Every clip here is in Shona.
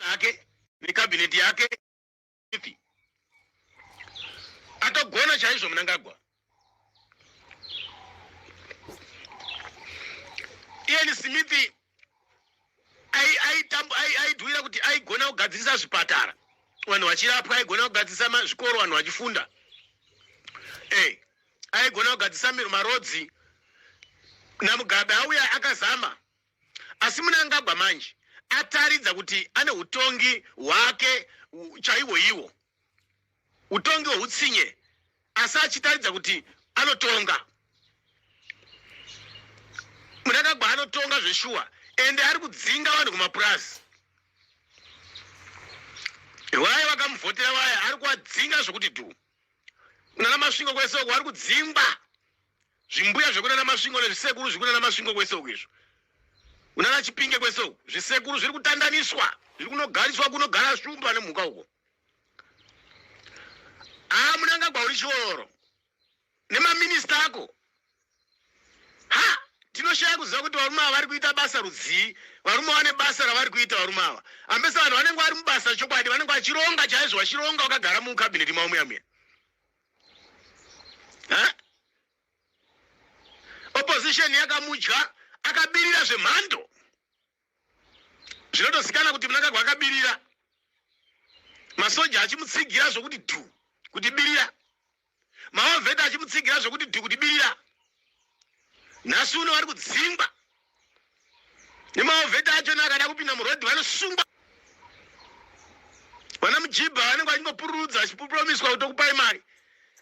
ake nekabineti yake ipi atogona chaizvo munangagwa ian smith aidhuira kuti aigona kugadzirisa zvipatara vanhu vachirapwa aigona kugadzirisa zvikoro vanhu vachifunda eh, aigona kugadzirisa marodzi namugabe auya akazama Asi Mnangagwa manje ataridza kuti ane hutongi hwake chaiwo iwo hutongi hweutsinye asi achitaridza kuti anotonga munangagwa anotonga zveshuwa ende ari kudzinga vanhu kumapurazi vaya vakamuvhotera vaya ari kuadzinga zvekuti dhu nana masvingo kwese uko ari kudzingwa zvimbuya zvekunana masvingo nezvisekuru zvikunana masvingo kwese uku izvo unana chipinge kwese uku zvisekuru zviri kutandaniswa zviri kunogariswa kunogara shumba nemhuka uko haa munangagwa uri chiororo nemaminista ako ha tinoshaya kuziva kuti varume ava vari kuita basa rudzii varume vane basa ravari kuita varume ava ambesa vanhu vanenge vari mubasa chokwadi vanenge vachironga chaizvo vachironga vakagara mukabineti mavo muya muya huh? opposition yakamudya akabirira zvemhando zvinotosikana kuti munangagwa akabirira masoja achimutsigira zvokuti dhu kuti birira maovheta achimutsigira zvokuti dhu kuti birira nhasi uno vari kudzingwa nemaovheti acho neakada kupinda murodhi vanosungwa vana mujibha vanenge vachingopururudza vachipuromiswa kuti okupai mari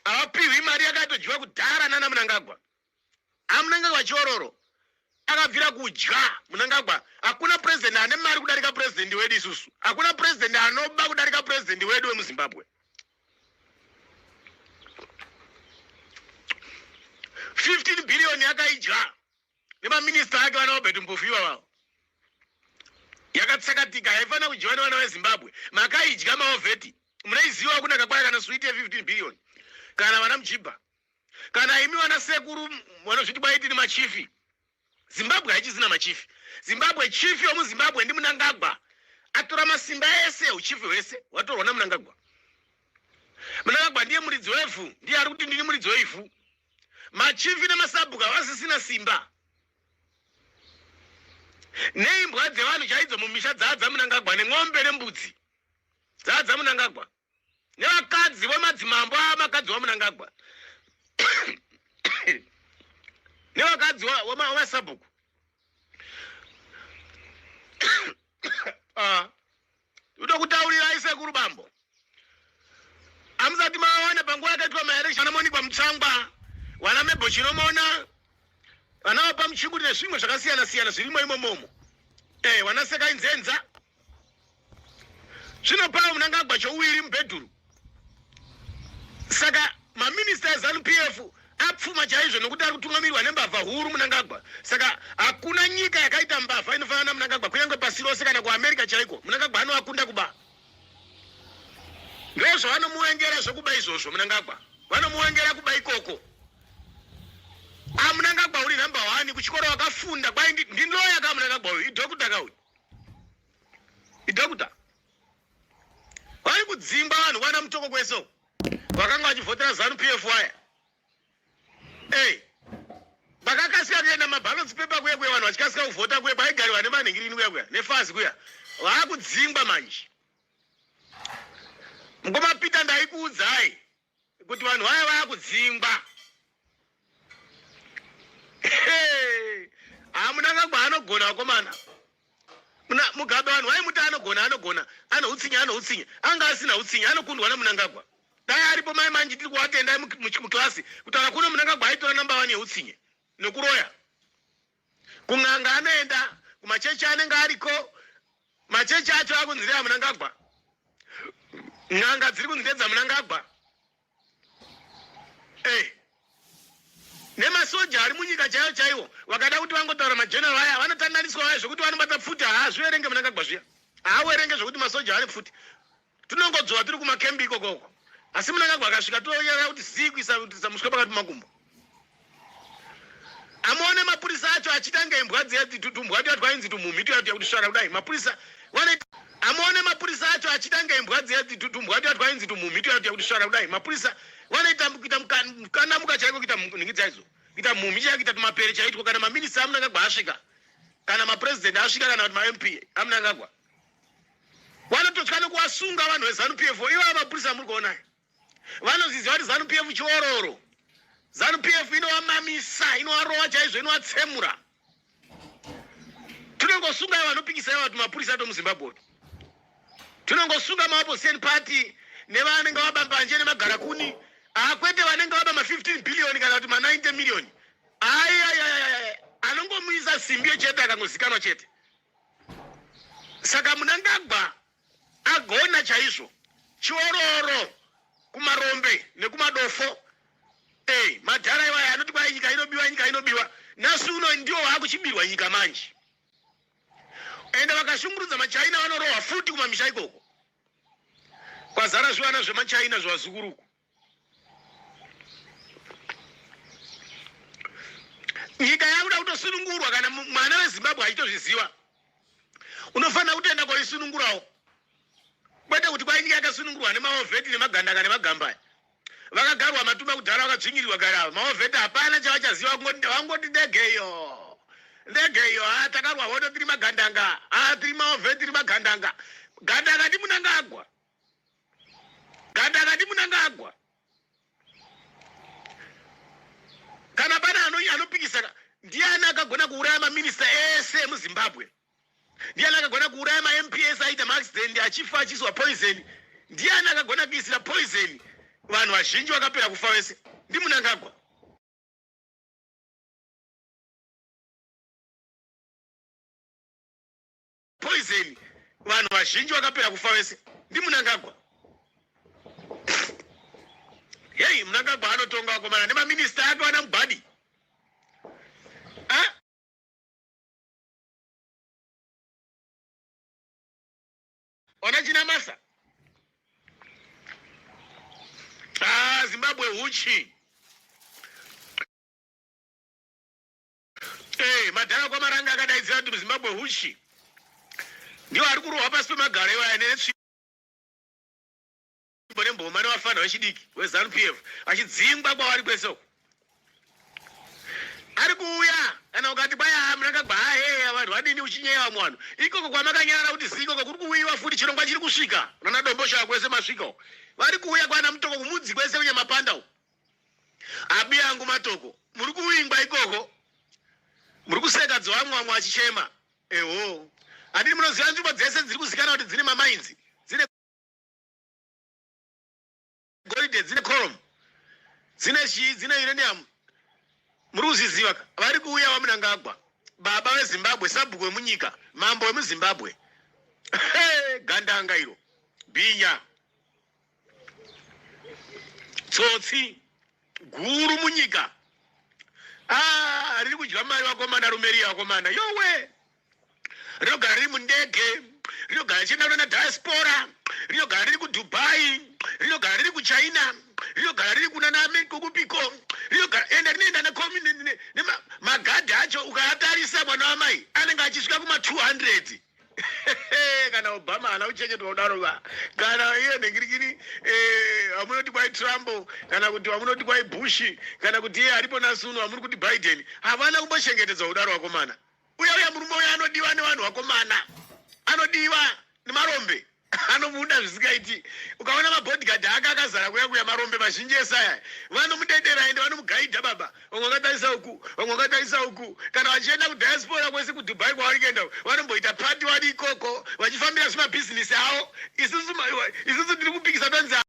havapihwi mari yakatodyiwa kudhara nana munangagwa amunenge vachiororo akabvira kudya munangagwa hakuna purezidenti ane mari kudarika purezidenti wedu isusu hakuna purezidenti anoba kudarika purezidenti wedu wemuzimbabwe 15 billion yakaidya nemaminista ake vana robert mpofu ivavavo yakatsakatika haifanira kudyiwa nevana vezimbabwe makaidya maovheti munaiziva kuna kakwaya kana switi ye15 billion kana vana muchibha kana imi vana sekuru vanozviti kwaitini machifi zimbabwe haichizina machifi zimbabwe chief yomuzimbabwe ndi munangagwa atora masimba ese uchief hwese watorwa namunangagwa munangagwa ndiye muridzi wevhu ndiye ari kuti ndini muridzi weivhu machifi nemasabhuku havasisina simba neimbwa dzevanhu chaidzo mumisha dzaadzamunangagwa nen'ombe nembudzi dzaadzamunangagwa nevakadzi vemadzimambo avakadzi vamunangagwa nevakadzi vemasabhuku ah. ndokutaurirai sekuru bambo amusati maona panguva yakaitwa maeresi vanamonikwa mutsangwa vana mebho chinomona vana vapa muchinguri nezvimwe zvakasiyana siyana zvirimo imomomo e eh, vanasekai nzenza zvino pava munangagwa chouiri mubhedhuru saka maminista ezanup f apfuma chaizvo nokuti ari kutungamirwa nembavha huru munangagwa saka hakuna nyika yakaita mbavha inofanana namunangagwa kunyange pasi rose kana kuamerica chaiko munangagwa anoakunda kuba ndozvavanomuwengera zvekuba izvozvo munangagwa vanomuwengera kuba ikoko amunangagwa ah, uri number one kuchikoro wakafunda kwai ndinoya ka munangagwa uyu idhokuta ka uyu idhokuta vari kudzimba vanhu vana mutoko kwese uku vakanga vachivhotera zanu pf waya ey vakakasika kuenda mabalotsi pepa kuya kuya vanhu vachikasika kuvhota kuya kwaigariwa nemanhingirini kuya kuya nefazi kuya vaakudzingwa manje mukoma peter ndaikuudzai kuti vanhu vaya vakudzingwa hamunanga kwaanogona vakomana mugabe vanhu vaimuti anogona anogona anoutsinye anoutsinye anga asina utsinye anokundwa namunangagwa dai aripo mai manje tiri kuvatendai muklasi kutaura kuno munangagwa aitora namba vani yeutsinye nokuroya kun'anga anoenda kumachechi anenge ariko machechi acho akunzi ndeamunangagwa n'anga dziri kunzi ndedzamunangagwa e eh. nemasoja ari munyika chaiyo chaiwo vakada kuti vangotaura majeneral aya vanotandaniswa vaya zvekuti vanobata pfuti haazviverenge munangagwa zviya haawerenge zvekuti masoja ane pfuti tinongodzora tiri kumakembi ikoko uko asi munangagwa akasvika toyaya kuti zii kuisa kutisa muswe pakati makumbo amuone mapurisa acho achiita nge imbwa dziya tumbwa tuya twainzi tumhumhi tuya tuya kuti svara kudai mapurisa wane amuone mapurisa acho achiita nge imbwa dziya tumbwa tuya twainzi tumhumhi tuya tuya kuti svara kudai mapurisa wanoita kuita mukana muka chaiko kuita nhingi dzaizo kuita mhumhi chaiko kuita tumapere chaitwa kana maminista amunangagwa asvika kana mapresident asvika kana kuti mamp amunangagwa vanototya nekuvasunga vanhu veZanu PF ivo mapurisa muri kuona vanozviziva kuti Zanu PF chiororo Zanu PF inovamamisa inovarova chaizvo inovatsemura tinongosunga ivo vanopikisa ivo vati mapurisa ato muZimbabwe tinongosunga maopposition party nevanenge vaba mbanje nemagara kuni akwete ah, vanenge vaba ma15 billion kana kuti ma90 million ayayayaya anongomuisa simbi yechete akangozikanwa chete saka munangagwa agona chaizvo chiororo kumarombe nekumadofo ey madhara iwaya anoti kwai nyika inobiwa nyika inobiwa nhasi uno ndiwo waakuchibirwa nyika manje ende vakashungurudza machina vanorohwa futi kumamisha ikoko kwazara zvivana zvemachina zvevazukuru uku nyika yakuda kutosunungurwa kana mwana wezimbabwe achitozviziva unofanira kutoenda koisunungurawo kwete kuti kwai nyika yakasunungurwa nemaovheti nemagandaka nemagambaya vakagarwa matuma kudhara vakadzvinyirirwa gari ava maovheti hapana chavachaziva vangoti ndegeyo ndegeyo ha ah, takarwa hodo tiri magandanga ha ah, tiri maovheti tiri magandanga gandanga ndimunangagwa Ganda akati munangagwa kana pane anopikisana ndiani akagona kuuraya maminista ese emuzimbabwe ndiani akagona kuuraya mamp ese aita maaccident achifa achiiswa poison ndiani akagona kuisira poison vanhu vazhinji vakapera kufa vese ndimunangagwa poison vanhu vazhinji vakapera kufa vese ndimunangagwa heyi munangagwa anotonga vakomana nemaminista ake vana mubhadi ona china masa ah, zimbabwe huchi Eh, madhara kwamaranga akadaidzira kuti muzimbabwe huchi ndiwo ari kurohwa pasi pemagaro iwaya netsvimbo nemboma nevafanha vechidiki wezanu p f vachidzingwa kwavari kwese uku ari kuuya kana ukati kwaya ah, munakagwa aheya ah, vanhu vadini uchinyeya vamwe vanhu ikoko kwamakanyara kuti ziikoko kuri kuuyiwa futi chirongwa chiri kusvika unana domboshaa kwese masvika uku vari kuuya kwana mutoko kumudzi kwese kunyamapanda uku Abi yangu matoko muri kuwingwa ikoko muri kuseka dzovamwamwa achichema eho handii munoziva nzvimbo dzese dziri kuzikana kuti dzine mamainzi dzine goridhe dzine corom dzine chii dzine uranium muri kuzviziva ka vari kuuya vamunangagwa baba vezimbabwe sabhuku vemunyika mambo vemuzimbabwe gandanga iro bhinya tsotsi guru munyika ah, riri kudya mari vakomana rume riya vakomana yowe rinogara riri mundege rinogara richienda kunana diaspora rinogara riri kudubai rinogara riri kuchina rinogara riri kunana kokupiko rinogara ende rinoenda nemagadhi acho ukaatarisa mwana wamai anenge achisvika kuma 200 kana obama haana kuchengetwa kudaro va kana iye nhengirikini eh, vamunoti kwai trump kana kuti vamunoti kwai bush kana kuti iye aripo nasuno vamuri kuti biden havana kumbochengetedzwa kudaro vakomana uya uya murume uya anodiwa nevanhu vakomana anodiwa nemarombe anomuda zvisingaiti ukaona mabodyguard ake akazara kuya kuya marombe mazhinji ese aya vanomudedera ende vanomugaidha baba vamwe vakatarisa uku vamwe vakatarisa uku kana vachienda kudiaspora kwese kudubai kwavari kuenda vanomboita pati wadi ikoko vachifambira zvimabhizinisi avo isusu tiri kupikisa tonzi